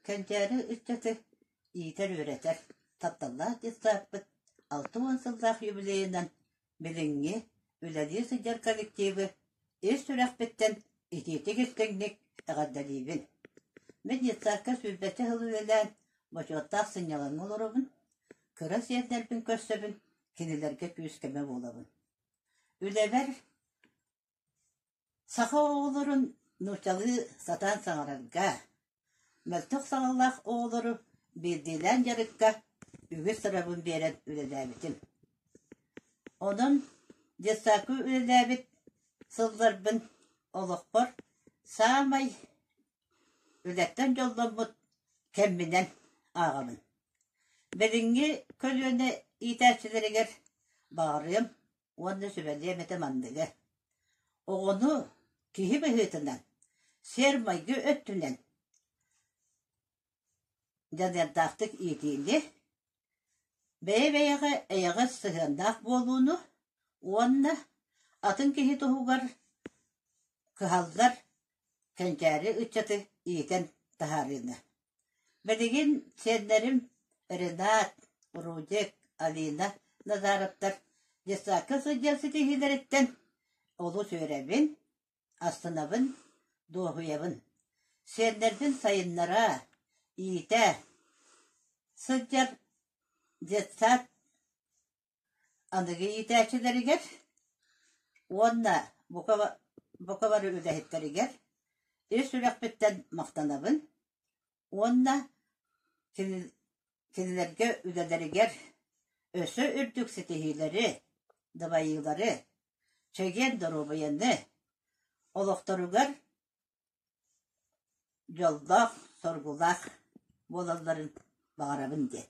Кэнчээри ыччаты иитэр-үөрэтэр, тапталлаах детсадпыт алта уон сыллаах юбилейынан билиҥҥи үлэлии сылдьар коллективы ис сүрэхпиттэн итиитик истиҥник эҕэрдэлиибин! Мин детсадка сүүрбэччэ сыл үлэлээн, бочуоттаах сынньалаҥҥа олоробун, кыра сиэрдэрбин көрсөбүн, кинилэргэ күүс-көмө буолабын. Үлэбэр саха оҕолорун нуучалыы сатаан саҥарарга, мөлтөх саҥалаах оҕолору биирдиилээн дьарыкка үгүс сырабын биэрэн үлэлээбитим. Онон детсаку үлэлээбит сылларбын олохпор саамай Үлэттэн дьолломмут кэмминэн ааҕабын. Билиҥҥи көлүөнэ иитээччилэригэр баарыам уонна сүбэлиэм этэ манныгы: оҕону киһи быһыытынан, сиэр-майгы өттүнэн дьаныардаахтык иитиини, Бэйэ-бэйэҕэ эйэҕэс сыһыаннаах буолууну уонна атын киһи туһугар кыһаллар кэнчээри ыччаты иитэн таһаарыыны. Билигин сиэннэрим Ренат, Рудик, Алина Назаровтар детсадка сылдьар ситиһиилэриттэн олус үөрэбин, Астынабын, дуоһуйабын, сиэннэрбин сайыннараа, иитээ, сылдьар детсад аныгы иитээччилэригэр уонна бука, бука бары үлэһиттэригэр ис сүрэхпиттэн махтанабын, уонна кинилэргэ үлэлэригэр өссө үрдүк ситиһиилэри, дабайыылары, чэгиэн доруобуйаны, олохторугар дьоллоох, соргулаах буолалларын баҕарабын диэн